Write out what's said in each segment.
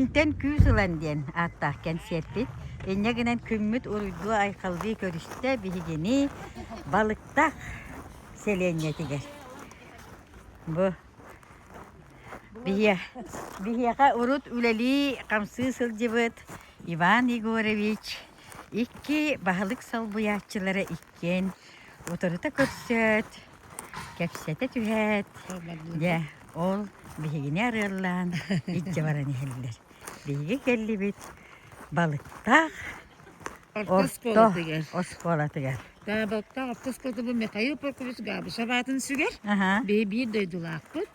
Интэн күүс ылан диэн ааттаах кэнсиэрпит инньэ гынан күммүт уруйдуу-айхаллыы көрүстэ биһигини Балыктах сэлиэнньэтигэр. Бу биһиэхэ урут үлэлии-хамсыы сылдьыбыт Иван Егорович Икки баһылык солбуйааччылара иккиэн утарыта көрсөөт, кэпсэтэ түһээт, Ол дьэ, барбыта. ол биһигини арыаллаан илдьэ баран иһэллэр. Биһиги кэллибит балыктаах орто Отпускуолатыгар. оскуолатыгар. Гаабыктаах отпускуолата бу Михаил Прокопьевич Габышев аатын сүгэр. Аһа, Бэйэ биир дойдулаахпыт,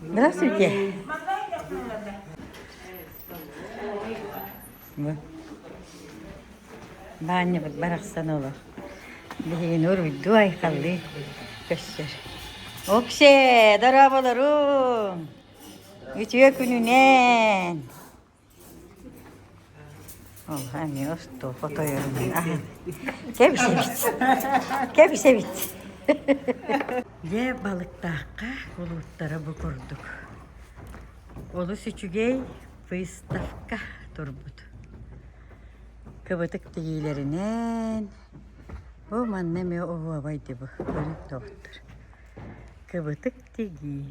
Здравствуйте. Баанньыбыт барахсан олор. Биһигини уруйдуу айхаллыы көссөр. Оксе, дорооболоруум. Үтүө күнүнэн. Олуһа эмиэ остуопа тойонун кэбисэбит кэбисэбит Дьэ балыктаахха улууттара бу курдук олус үчүгэй выставка турбут кыбытык тигиилэринэн бу манна эмиэ оһуобай дибы көрүҥ доҕоттор кыбытык тигии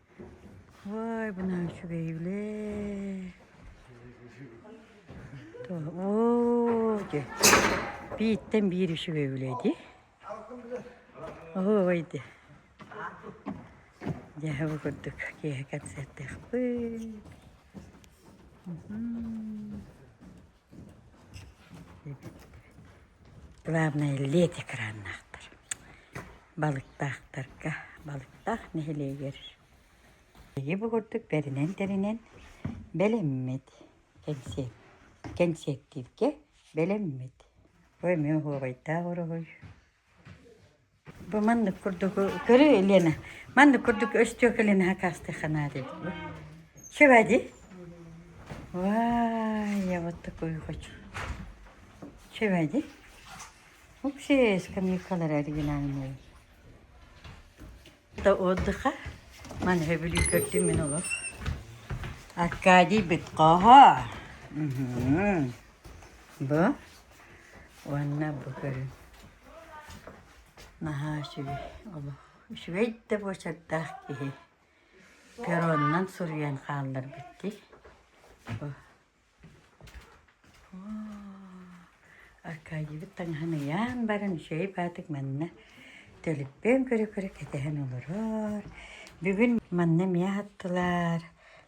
Ой, бына үчүгэйилээ. Оо, дьэ, бииртэн биир үчүгэйилээ дии. Ой, дэ. Дьэ, бу курдук киэһэ концертыахпыт. Главное лет экраннаахтар. Балыктаахтарга, Балыктаах нэһилиэгэр биһиги бу курдук бэринэн-тэринэн бэлэммит, кэнсиэт, кэнсиэктииргэ бэлэммит. Ой, эмиэ уһуобайдаах уруһуй. Бу маннык курдук көрү Лена, маннык курдук өстүөкэ Ленаҕа каастыахханаа деді бу. Чевади? Вай, вот такой хочу. Чевади? Вообще скамейкалар оригинальные. Da отдыха. Ман хөбүлүй көрдүм мен олох. Аркадий Битково. Бу? Уонна бу көрүн наһаа үчүгэй олох үчүгэй да буочардаах киһи перронунан суруйан хаалларбыт дии. Бу Аркадьыбыт таҥаһын ыйаан баран үчүгэй баатык манна төлүппээн көрө-көрө кэтэһэн олорор. Бүгүн манна эмиэ ааттылар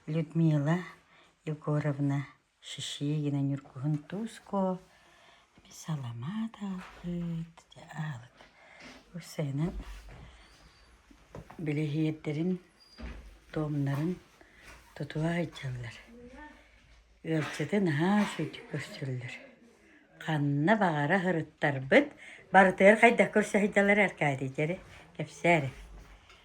Людмила Егоровна Шишигина Ньургуһун Туско саламаат аалбыт, аалыт. Уссайынан билиһиэрдэрин, туомнарын тутуа сылдьаллар. Ыалдьыты наһаа үчүгэйдик көрсөллөр. Ханна баҕара сырыттарбыт, барытыгар хайдах көрсө сылдьаллар Аркадий дьэрэ, кэпсээр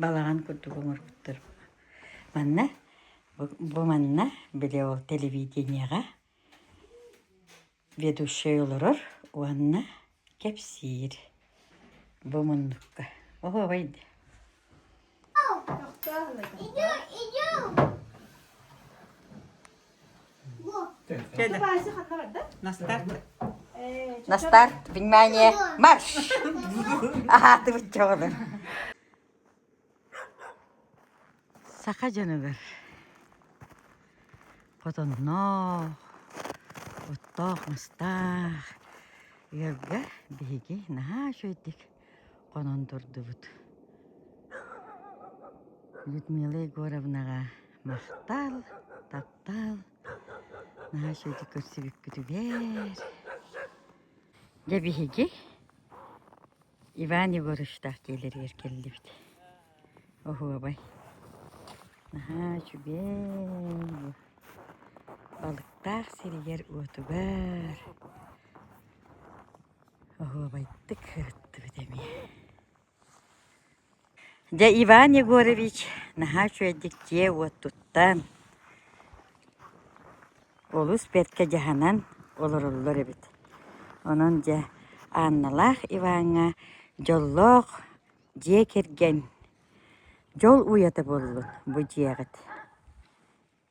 Балаҕан курдук оҥорбуттар. Манна бу манна били ол телевидениеҕа ведущай олорор уонна кэпсиир бу муннукка. Оһуобай дии. Настар. Настар, внимание, марш! Аһаатыбыт чоҕулар. Саха дьонугар хотонноох, оттоох мастаах, ыалга биһиги наһаа үчүгэйдик хонон турдубут. Людмила Егоровнаҕа Настаал, таптаал, Наша ди көрсүбүккүтүгэр. Дьэ биһиги Иван Егоровичтаах дьиэлэригэр кэллибит. Оһуобай. Наһаа үчүгэй бу. Балыктаах сиригэр-уотугар оһуобайдык ырыттыбыт эмиэ. Дьэ Иван Егорович наһаа үчүгэйдик дьиэ-уот туттан, олус бэркэ дьаһанан олороллор эбит. Онон дьэ Анналаах Иваҥҥа дьоллоох дьиэ кэргэн, дьол уйата буоллун бу дьиэҕит.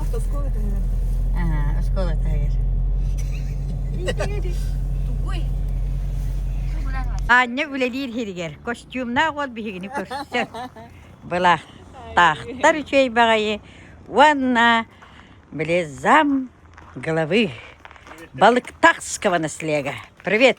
Оскола таһыгар. Аа, оскола таһыгар. Тугуй? Аання үлэлиир хиригэр. Костюмнаах уол биһигини көрсөр. Была тахтар үчүгэй баҕайы уонна близам головы. Балыктахского наслега. Привет!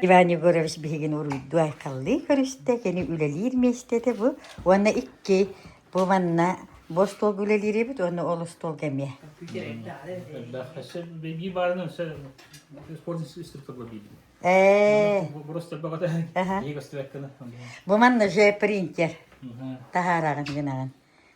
Иван Егорович биһигини уруйдуу айхаллыы көрүстэ, кини үлэлиир миэстэтэ бу. Уонна икки бу манна бу остуолга үлэлиир эбит уонна ол остуолга эмиэ. Хасер беги барынан все спорный system поглобили. Ээ. Просто бөҕөтө иһи көстүбэккэне. Бу манна же принтер. Таһаараҕын гынаҕын.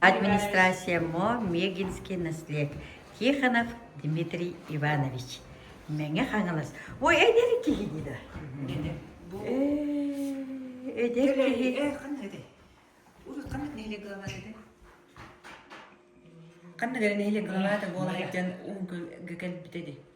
Администрацияммо Мегинский наслег Тихонов Дмитрий Иванович Мэҥэ Хаҥалас Ой эдэр киһини да эдэр киһи ханна гэрэ нэһилик главата буолар дьон унгу кэлбите ди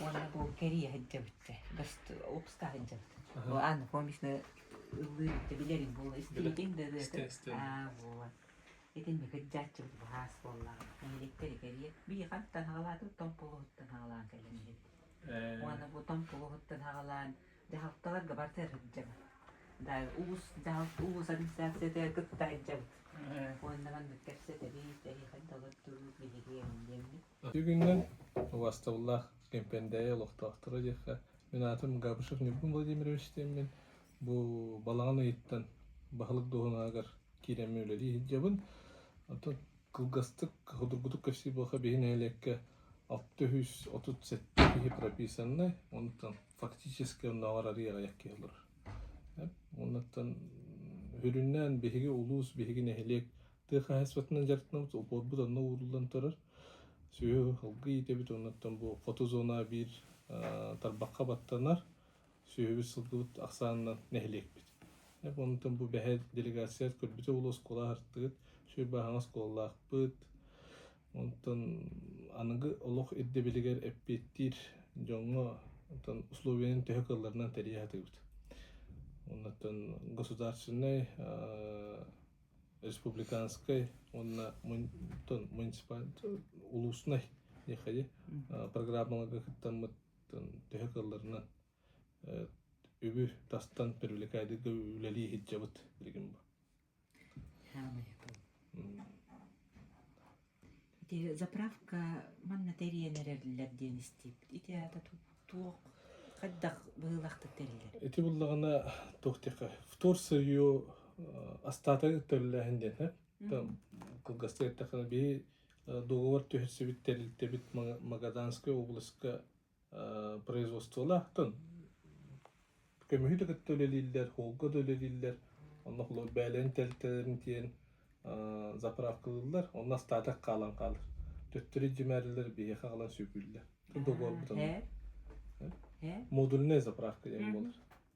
Уонна бу кэрийэ сылдьабыт, лупска сылдьабыт. Анна Комична ыллыыр иттэ билэр ит буолла. Истибитиҥ да ырыата. Аа, буолла. Итин мэ кырдьааччыбыт баһаас буоллаҕа. Нэһилиэктэри кэрийэ. Бии хантан аҕалаатыбыт, том полуһуттан аҕалаан кэллим диэбит. Уонна бу том полуһуттан аҕалаан дьаһалталарга барытыгар сылдьабыт. Да улуус дьаһалт улуус администрацията кытта сылдьабыт. Уонна маннык кэпсэт эбит, эһиэхэ да олордубут, билигин диэммит. Ити күнүнэн убастабыллаах Кэмпэндээйи олохтоохторо диэххэ, мин аатым Габышев-Ньургун Владимирович диэммин, бу балаҕан ыйыттан баһылык дуоһунаһыгар киирэммин үлэлии сылдьабын. Оттон кылгастык судургутук кэпсиир буоллахха, биһи нэһилиэккэ алта үс отут сэттэ киһи прописаннай, онтон фактически оннооҕор арыый аҕыйах киһи олорор. Уоннаттан үрүннээн биһиги улуус, биһиги нэһилиэк тыа хаһаайыстыбатынан дьарыктанабыт, олбуорбут онно ууруллан турар. Сүһү алгы иитэбит, оннуттан бу хоту зона биир тарбахха баттанар. Сүһүбүт сылгыбыт ахсаанынан нэһилиэкпит. Оннуттан бу бэһэр делегация көрбүтэ болуо оскуола аһартыгыт, сүр бааһаҥа оскуолалаахпыт. Онтон аныгы олох ирдэбилигэр эппиэттиир дьоҥҥо онтон условиянан төһө кыалларынан тэрийэ сатыыбыт. Оннуттан государственнай республиканскай уонна улууснай программаларга кыттаммыт төһө кыалларынан үбү тастан привлекайдык үлэлии сылдьабыт билигин бу Ити заправка манна тэрийэн эрэллэр диэн истибит. Ити аата туох хайдах быһыылаахтык тэриллэр? Ити буллаҕына туох диэхэ вторсыйу астаатан төллөөһүн диэн кылгастыы эттэххинэ бии договор түһэрсибит тэрилтэбит Магаданскай областка производстволаахтан көмүһү да кытта үлэлииллэр, һуолга да үлэлииллэр. Онно холобур бээлэни тэлтэлэрин тиэйэн заправкалыыллар. Онно остаатык хаалан хаалар. Төттөрү дьимээрилэр биһиэхэ хаалан сүгүүллэр. Договор бутанар. Модульнай заправка диэн буолар.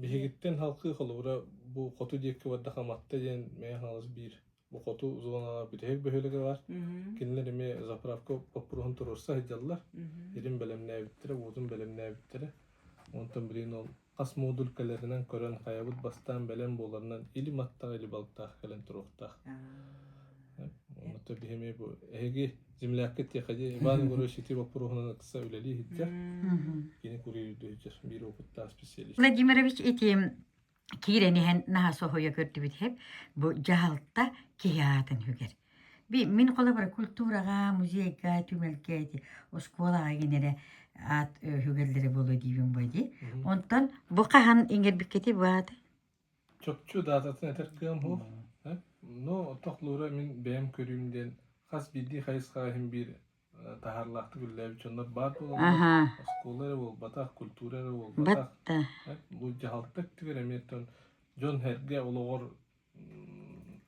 Биһигиттэн халкы холобура бу хоту диэки бардах Аматта диэн Мэйэ Хаҥалас биир бу хоту зонаҕа бүтэһик бөһүөлэгэ бар. Кинилэр эмиэ заправка боппуруоһун туруорса сылдьаллар. Ирин бэлэмнээбиттэрэ, уотун бэлэмнээбиттэрэ. Онтон билигин ол хас модулькаларынан көрөн хайабыт бастаан бэлэм буоларынан или маттаах или балтаах кэлэн туруохтаах. Онно биһи эмиэ бу эһиги землякка тиэхэди Иван Егорович ити боппуруоһунан ыкса үлэлии иһиттэр. Кини курьер үрдүһүттэр биир опыттаах специалист. Владимирович ити киирэн иһэн наһа соһуйа көрдүбүт хэп бу дьаһалта киһи аатын хүгэр. Би мин холобура культураҕа, музейга, түмэлгээти, оскуолаҕа генерэ аат хүгәрләре боло диибин бой ди. Онтон бу хаһан иңербиккети баат Чопчу даататын этэр кыам уһуох. э, Но тохлуура мин бэйэм көрүүм диэн хас биирдии хайысхаҕа иһин биир э, таһаарлаахтык үлэлээбит дьоннор баар буолаллар. Аһаа, Оскуола эрэ буолбатах, культуура эрэ буолбатах. батта. э, Бу дьаһалта өттүгэр эмиэ тон дьон-сэргэ олоҕор м,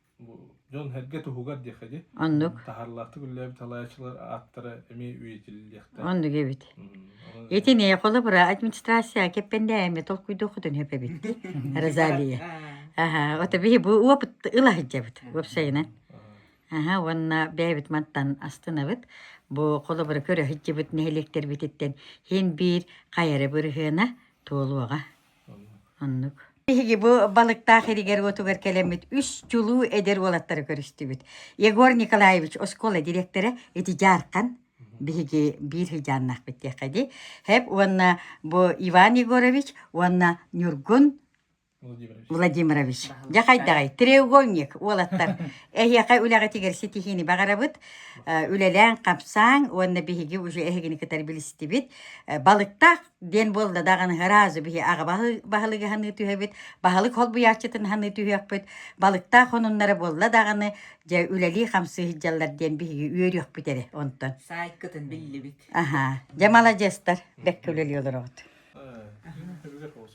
дьон эргэ туһугар диэххэ дии оннук таһарлаахтык үллээбит талаачылар ааттара эмиэ үйэтилиэхтэ оннук эбит ити не холобра администрация кеппендээме толкуйдохутун хэпэбит розалия аха ото биһи бу опыт ылаһыддабыт уопсайынан аха уонна бэйэбит мантан астынабыт бу холобура көрө сылдьыбыт нэһилиэктэрбититтэн һин биир хайары бырыһыана туолуоҕа Биһиги бу балыктаах иригэр-уотугар кэлэммит үс чулуу эдэр уолаттары көрүстүбүт. Егор Николаевич оскуола директора ити дьаархан биһиги биир сыдьааннаахпыт диэххэ дии. Хэп уонна бу Иван Егорович уонна Ньургун Владимирович. Дьэ хайдаҕай, треугольник уолаттар. Эһиэхэ үлэҕитигэр ситиһиини баҕарабыт. Үлэлээн-хамсааҥ уонна биһиги уже эһигини кытары билистибит. Балыктаах диэн буолла даҕаны разу биһи аҕа баһы баһылыгы хаһыныы түһэбит баһылык холбуйааччытын хаһыныы түһүөхпүт балыктаах хонуннара буолла даҕаны дьэ үлэлии хамсыы сылдьаллар диэн биһиги үөрүөхпүт эрэ онтон саайкытын биллибит аха дьэ маладьыастар бэккэ үлэлии олороҕут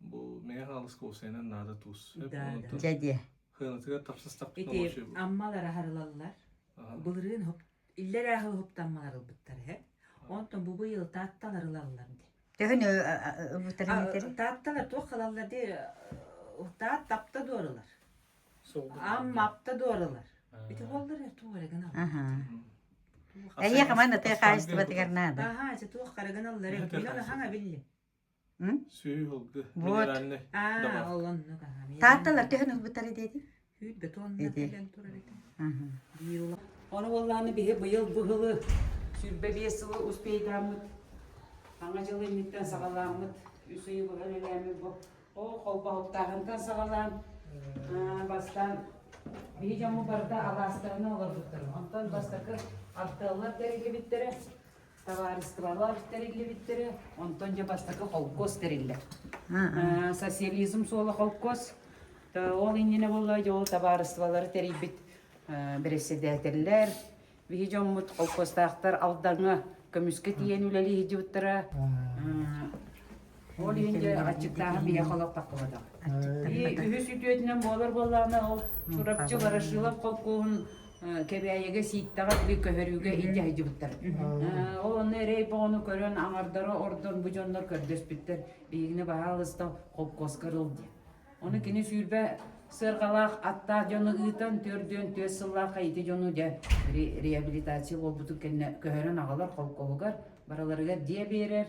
Бу мэҥэ хаалыска уопсайынан наада туус. Дьэ диэ. Хыанатыгар тапсастахпыт Ити аммалар аһарылаллар. Былырыын хоп иллэр ааһы хоптаммалар ылбыттар эһэ. Онтон бу быйыл таатталар ылаллар ди. Төһүн ыбытарыннатарын? Таатталар туох халаллар ди таат тапта дуоралар. Амма апта дуоралар. Ити боллар э туорагын аллар. Эйе хаман аты хаачыстыбатыгар наада. Аха, ити туох карагын аллар. Билон хаҥа билли. Вот. А, ол оннук. Таатталар төһөн ылбыттар диэти? Үүт бетонна кэлэн турар этэ. Оны болланы биһи быйыл бу жылы сүүрбэ биэс сылы успейдааммыт. Аңа жыл инниттен саҕаламмыт, үс ыйы быһа үлэлээммит бу. О холбоһуттааҕынтан саҕалаан, бастан биһи жамы барда алаастарына олорбуттарын. Онтон бастакы артыаллар да игибиттэрэ. табаарыстыбалар тэриллибиттэрэ онтон дьэ бастакы холкуос тэриллэр социализм суола холкуос ол иннинэ буолла дьэ ол табаарыстыбалары тэрийбит бэрэссэдээтэллэр биһи дьоммут холкуостаахтар алдаҥҥа көмүскэ тиийэн үлэлиһи дьыбыттара Ол иһин дьэ аччыктааһын биһиэхэ олохтохтоботох. И үһүс үтүөтүнэн буолар буоллаҕына ол Сурапчы Ворошилов холкуоһун Кэбээйигэ сииттэҕэ тили көһөрүүгэ илдьэ сылдьыбыттар. Ол онно эрэй боҕону көрөн аҥардара ордон бу дьоннор көрдөспүттэр. Биһигини баһаалыста холкуоска ырыл диэн. Ону кини сүүрбэ сырҕалаах аттаах дьону ыытан төрдүөн түөс сыллаахха ити дьону дьэ реабилитация буолбутун кэннэ көһөрөн аҕалар холкуоһугар барыларыгар диэ биэрэр